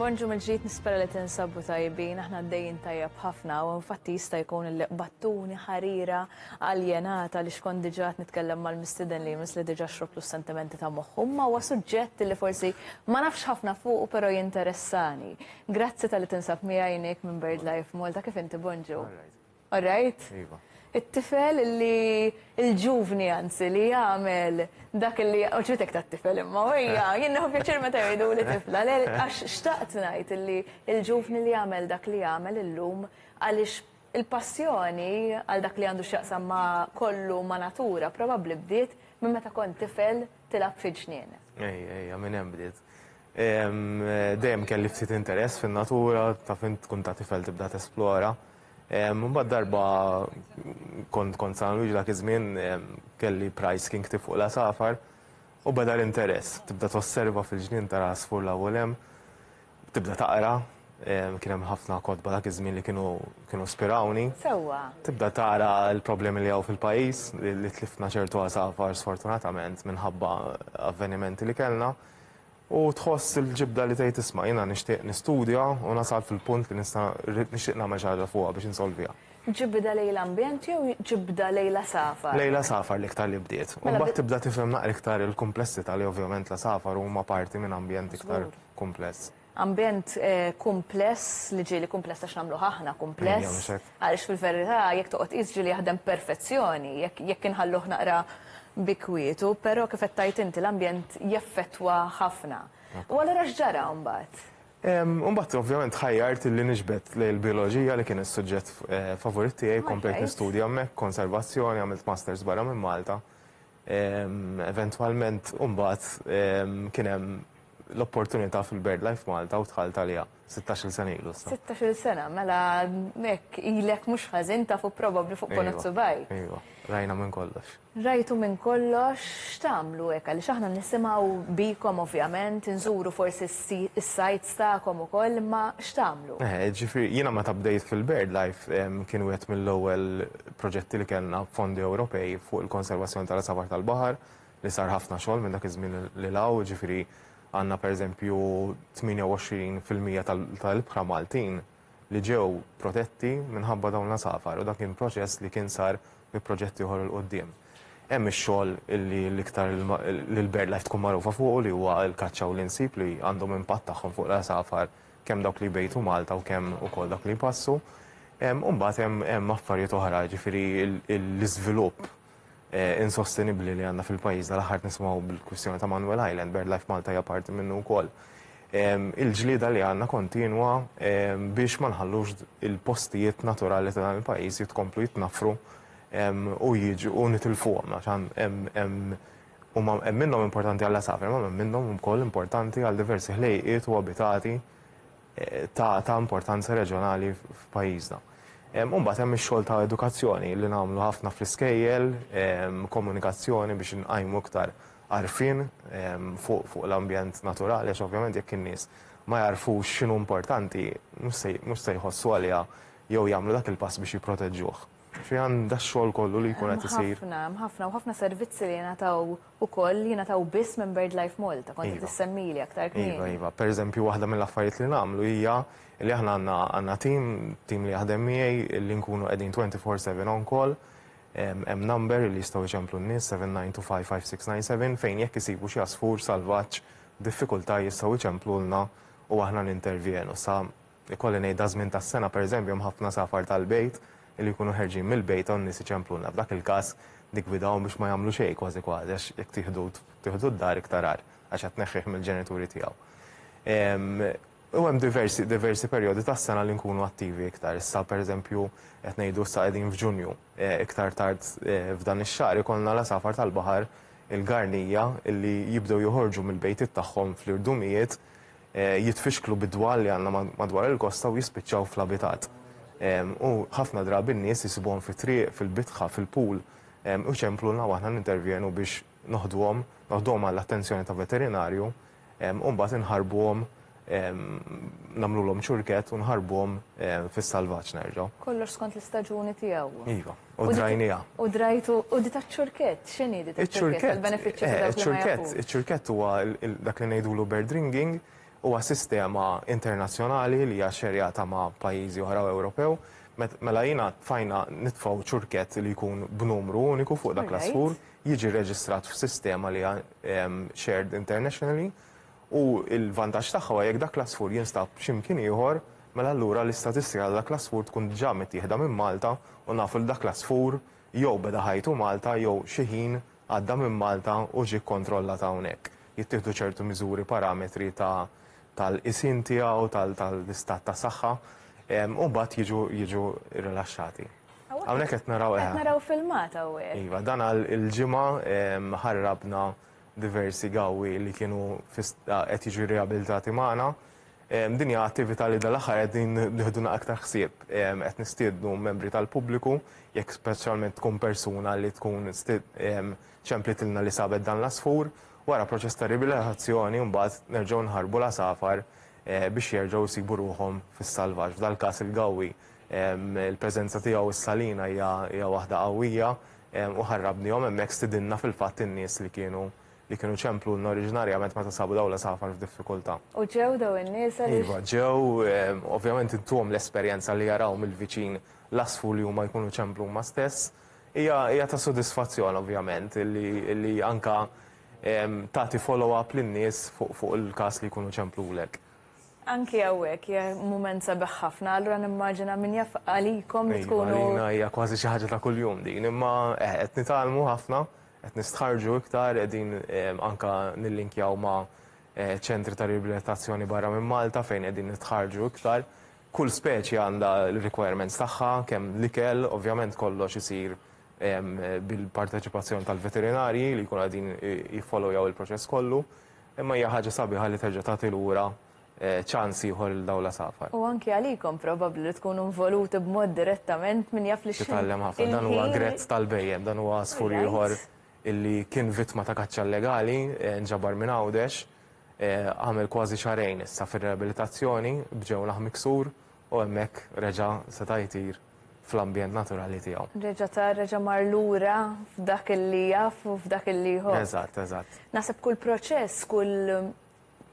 Bonġu mill-ġdid nispera li tinsabu tajbin, aħna għaddejjin tajjeb ħafna u infatti jista' jkun li battuni ħarira aljenata li xkont diġà nitkellem mal-mistiden li jmiss li diġà xrobtu s-sentimenti ta' moħħum ma huwa suġġett li forsi ma nafx ħafna fuq u però jinteressani. Grazzi tal-li tinsab miegħi minn BirdLife Malta kif inti Bonġu. All right? Iva. It-tifel li, il-ġuvni anzi, li jagħmel dak li, u ċbitek ta' tifel imma, u hija, jien nieħu pjaċir meta jgħidu li tifla, għax xtaqt ngħid li il-ġuvni li jagħmel dak li jagħmel illum għaliex il-passjoni għal dak li għandu x'jaqsam ma' kollu ma' natura probabbli bdiet minn meta kont tifel tilgħab fil-ġnien. Ej, ej, minn hemm bdiet. Dejjem kelli ftit interess fin-natura, taf int tkun ta' tifel tibda tesplora. Mbagħad darba kont kont San Luigi dak iż-żmien kelli price kien ktib fuq l-għasafar u beda l-interess. Tibda tosserva fil-ġnien tara għasfur l u l-hemm, tibda taqra, kien hemm ħafna kotba dak iż-żmien li kienu kienu spirawni. Sewwa. Tibda tara l-problemi li hawn fil-pajjiż li tlifna ċertu għasafar sfortunatament minħabba avvenimenti li kellna. U tħoss il-ġibda li tgħid isma' jiena nixtieq nistudja u nasal fil-punt li nista' rrid nixtieq nagħmel xi ħaġa fuqha biex insolviha. Ġibda lejn l-ambjent jew ġibda lejn l-għasafar? Lejn l-għasafar l-iktar li bdiet. U mbagħad tibda tifhem naqra iktar il-kumplessità li ovvjament l-għasafar huma parti minn ambjent iktar kumpless. Ambjent kumpless li ġieli kumpless għax nagħmluh aħna kumpless. Ejja mhux hekk. Għaliex fil-verità jekk toqgħod tqis ġieli jaħdem b'perfezzjoni jekk jekk inħalluh naqra bi kwietu, però kif qed tgħid inti l-ambjent jeffettwa ħafna. U allura x'ġara mbagħad? U mbagħad ovvjament ħajjart illi niġbed lejn il-bijoloġija li kien is-suġġett favorit tiegħi, komplejt nistudja hemmhekk, konservazzjoni, għamilt masters barra minn Malta. Eventwalment mbagħad kien hemm l-opportunità fil-BirdLife Malta u dħalt għaliha. Sittax-il sena ilu issa. Sittax-il sena, mela hekk ilek mhux ħażin tafu probabbli fuq ponot subgħajk. Ejwa, rajna minn kollox. Rajtu minn kollox, x'tagħmlu hekk għaliex aħna nisimgħu bikom ovvjament, inżuru forsi s-sites tagħkom ukoll imma x'tagħmlu? Eħe, ġifieri jiena meta bdejt fil-BirdLife kien wieħed mill-ewwel proġetti li kellna b'fondi Ewropej fuq il-konservazzjoni tal-għasafar tal-baħar li sar ħafna xogħol minn dak iż-żmien lil hawn, ġifieri Għandna pereżempju 28 fil-mija tal-ibħra Maltin li ġew protetti minħabba dawn l-għasafar u dan kien proċess li kien sar bi proġett ieħor 'il quddiem. Hemm ix-xogħol li l-iktar li l-BirdLife tkun magħrufa fuqu li huwa l-kaċċa u l-insib li għandhom impatt tagħhom fuq l-għasafar kemm dawk li jbejtu Malta u kemm ukoll dawk li jpassu. U mbagħad hemm affarijiet oħra jiġifieri l-iżvilupp insostenibbli li għandna fil-pajjiżna l-aħħar nisimgħu bil-kwistjoni ta' Manuel Island, BirdLife Malta hija parti minnu wkoll. Il-ġlieda li għandna kontinwa biex ma nħallux il-postijiet naturali ta' dan il-pajjiż jitkomplu jitnaffru u jiġu u nitilfuhom għax hemm huma hemm minnhom importanti għall-għasafar, imma hemm minnhom ukoll importanti għal diversi ħlejqiet u abitati ta' importanza reġjonali f'pajjiżna. U mbagħad hemm ix-xogħol ta' edukazzjoni li nagħmlu ħafna fl-iskejjel, komunikazzjoni biex inqajmu iktar għarfien fuq l-ambjent naturali għax ovvjament jekk in-nies ma jagħrfux x'inhu importanti mhux se jħossu għaliha jew jagħmlu dak il-pass biex jipproteġġuh. Fiha dax-xogħol kollu li jkun qed isir. Hemm ħafna, hemm ħafna u ħafna servizzi li jingħataw ukoll li jingħataw biss minn BirdLife Malta, kont qed issemmili aktar kmieni. Iva, iva. Pereżempju waħda mill-affarijiet li nagħmlu hija li aħna għandna għandna tim, tim li jaħdem miegħi li nkunu qegħdin twenty four seven on call. Hemm number li jistgħu jċemplu n-nies, seven nine two five five six nine seven, fejn jekk isibu xi għasfur salvaġġ, diffikultà jistgħu jċemplulna u aħna nintervjenu. Sa Ikolli ngħid daż-żmien tas-sena, pereżempju, hemm ħafna safar tal-bejt li jkunu ħerġin mill-bejt hawn nies iċemplulna. F'dak il-każ niggwidahom biex ma jagħmlu xejn kważi kważi għax jekk tieħdu tieħdu d-dar iktar agħar għax qed tneħħih mill-ġenituri tiegħu. U hemm diversi diversi perjodi tas-sena li nkunu attivi iktar. Issa pereżempju qed ngħidu issa qegħdin f'Ġunju. Iktar tard f'dan ix-xahar ikollna l-għasafar tal-baħar, il-garnija, li jibdew joħorġu mill-bejtiet tagħhom fl-irdumijiet jitfixklu bid-dwal li għandna madwar il-kosta u jispiċċaw fl-abitat. U ħafna drabi n-nies jisibuhom fit-triq, fil-bitħa, fil-pool u jċemplulna u aħna nintervjenu biex noħduhom, noħduhom għall-attenzjoni ta' veterinarju u mbagħad inħarbuhom, nagħmlulhom ċurkett u nħarbuhom fis-salvaġġ nerġgħu. Kollox skont l-istaġuni tiegħu. Iva. U drajnija. U drajtu, u di ta' ċurket, xini di ta' ċurket? Il-benefiċċju ta' eh, ċurket. Ċurket huwa dak li ngħidulu bird ringing, huwa sistema internazzjonali li hija xerjata ma' pajjiżi oħra Ewropew. Mela jina fajna nitfaw ċurket li jkun b'numru uniku fuq dak l-asfur, jiġi reġistrat f'sistema li hija shared internationally u l-vantaġġ tagħha huwa jekk dak l-għasfur jinstab xi mkien ieħor, mela allura l-istatistika ta' dak l-għasfur tkun diġà mittieħda minn Malta u nafu li dak l-għasfur jew beda ħajtu Malta jew xi ħin għadda minn Malta u ġie kkontrollat hawnhekk. Jittieħdu ċertu miżuri, parametri ta' tal-qisien tiegħu, tal-istat ta' saħħa, u mbagħad jiġu jiġu rrilaxxati. Hawnhekk qed naraw, eħe. Qed naraw filmat hawnhekk. Iva, dan għal il-ġimgħa ħarrabna diversi gawwi li kienu qed jiġu riabilitati magħna. Din hija attività li dal-aħħar qegħdin nieħduna aktar ħsieb. Qed nistiednu membri tal-pubbliku, jekk speċjalment tkun persuna li tkun ċemplitilna li sabet dan l-għasfur, wara proċess ta' riabilitazzjoni mbagħad nerġgħu nħarrbu l-għasafar biex jerġgħu jsibu ruħhom fis-salvaġġ. F'dal-każ il-gawwi, il-preżenza tiegħu s-salina hija waħda qawwija, u ħarrabnihom hemmhekk stidinna fil-fatt in-nies li kienu li kienu ċemplulna oriġinarjament meta sabu dawn l-għasafar f'diffikultà. U ġew dawn in-nies għaliex? Iva, ġew, ovvjament intuhom l-esperjenza li jaraw mill-viċin l-għasfur li huma jkunu ċemplu huma stess. Hija hija ta' sodisfazzjon ovvjament li li anke tagħti follow-up lin-nies fuq fuq il-każ li jkunu ċemplulek. Anki hawnhekk hija mument sabiħ ħafna, allura nimmaġina min jaf għalikom li tkunu. Iva, għalina hija kważi xi ħaġa ta' kuljum din, imma eh, qed nitgħallmu ħafna, qed nistħarrġu iktar, qegħdin eh, anke nillinkjaw ma' eh, ċentri ta' riabilitazzjoni barra minn Malta fejn qegħdin nitħarġu iktar. Kull speċi għandha l-requirements tagħha, kemm l-ikel, ovvjament kollox isir bil-parteċipazzjoni tal-veterinarji li jkunu qegħdin jiffollowjaw il-proċess kollu. Imma hija ħaġa sabiħa li terġa' tagħti lura ċans ieħor lil dawn l-għasafar. U anki għalikom probabbli li tkunu involuti b'mod direttament min jaf li xi. Titgħallem ħafna. Dan huwa grezz tal-bhejjem, dan huwa għasfur ieħor illi kien vittma ta' kaċċa illegali, nġabar minn Għawdex, għamel kważi xahrejn issa fir-riabilitazzjoni b'ġewnaħ miksur U hemmhekk reġa' seta' jtir fl-ambjent naturali tiegħu. Reġa' tar, reġa' mar lura f'dak li jaf u f'dak li jħobb. Eżatt, eżatt. Naħseb kull proċess, kull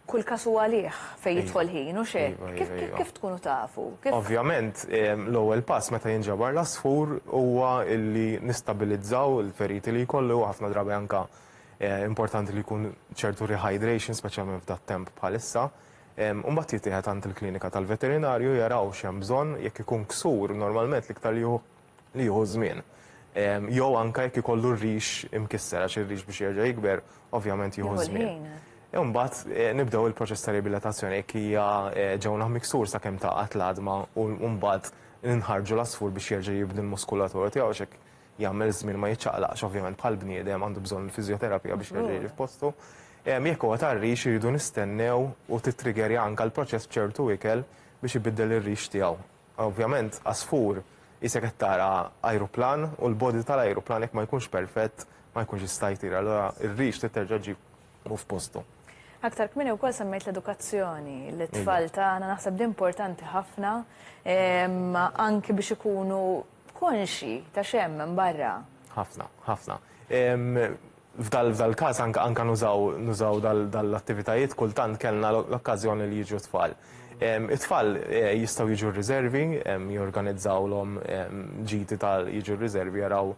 kull każ hu għalih fejn jidħol ħin, hux hekk? Iva, iva, iva. Kif tkunu tafu? Ovvjament, l-ewwel pass meta jinġabar l-għasfur huwa li nistabilizzaw il-feriti li jkollu, ħafna drabi anke importanti li jkun ċertu rehydration, speċjalment f'dat-temp bħalissa, u mbagħad jittieħed għand il-klinika tal-veterinarju jaraw x'hemm bżonn, jekk ikun ksur normalment l-iktar li jieħu li jieħu żmien. Jew anke jekk ikollu r-rix imkisser għax ir-rix biex jerġa' jikber ovvjament jieħu żmien. Jew mbagħad nibdew il-proċess ta' riabilitazzjoni jekk hija ġewna b'miksur sakemm taqgħad l-għadma u mbagħad inħarrġu l-għasfur biex jerġa' jibni l-muskulatura tiegħu għax hekk jagħmel żmien ma jiċċaqlaqx ovvjament bħal bniedem għandu bżonn il-fiżjoterapija biex jerġa' jiġi f'postu. Ehm, jekk huwa tar-rix iridu nistennew u titriggerja anke l-proċess b'ċertu ikel biex ibiddel ir-rix tiegħu. Ovvjament għasfur isek qed tara ajruplan u l-body tal-ajruplan jekk ma jkunx perfett ma jkunx jista' jtir, allura ir-rix trid terġa' ġib u f'postu. Aktar kmini wkoll semmejt l-edukazzjoni, l-tfal tagħna naħseb li importanti ħafna ehm, anki biex ikunu Konxi ta' x'hemm minn barra. Ħafna, ħafna. F'dal-każ anke nużaw dal-attivitajiet kultant kellna l-okkażjoni li jiġu t-tfal. It-tfal jistgħu jiġu r-riżervi, jorganizzawlhom ġiti ta' jiġu r-riżervi jaraw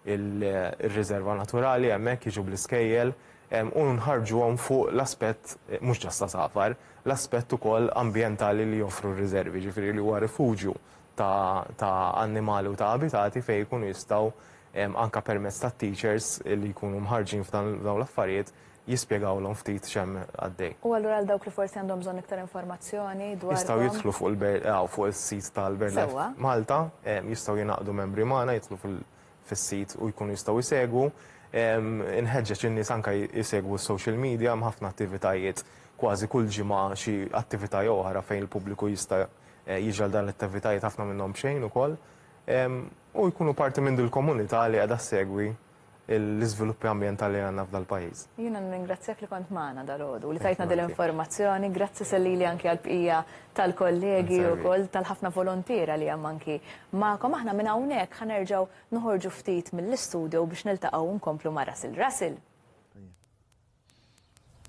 ir-riżerva naturali hemmhekk, jiġu bl-iskejjel u nħarrġuhom fuq l-aspett mhux ġast għasafar, l-aspett ukoll ambjentali li joffru r-riżervi, jiġifieri li huwa rifuġju ta' ta' annimali u ta' abitati fejn ikunu jistgħu anke permezz tat-teachers li jkunu mħarrġin f'dan f'dawn l-affarijiet jispjegawlhom ftit x'hemm għaddej. U allura għal dawk li forsi għandhom bżonn iktar informazzjoni dwarkom. Jistgħu jidħlu fuq il-BirdLife hawn fuq is-sit tal-BirdLife Malta, jistgħu jingħaqdu membri magħna jidħlu fil fis-sit u jkunu jistgħu jsegwu. Inħeġġeġ in-nies anke jsegwu s-social media hemm ħafna attivitajiet kważi kull ġimgħa xi attività jew oħra fejn il-pubbliku jista' Jiġri għal dan l-attivitajiet ħafna minnhom b'xejn ukoll u jkunu parti minn dil-komunità li qiegħda ssegwi l-iżviluppi ambjentali li għandna f'dal-pajjiż. Jiena nirringrazzjak li kont magħna dalgħodu u li tajtna dil-informazzjoni. Grazzi Sellili anki għall-bqija tal-kollegi ukoll tal-ħafna voluntiera li hemm anki magħkom. Aħna minn hawnhekk ħa nerġgħu noħorġu ftit mill-istudio biex niltaqgħu u nkomplu ma' Russell. Russell!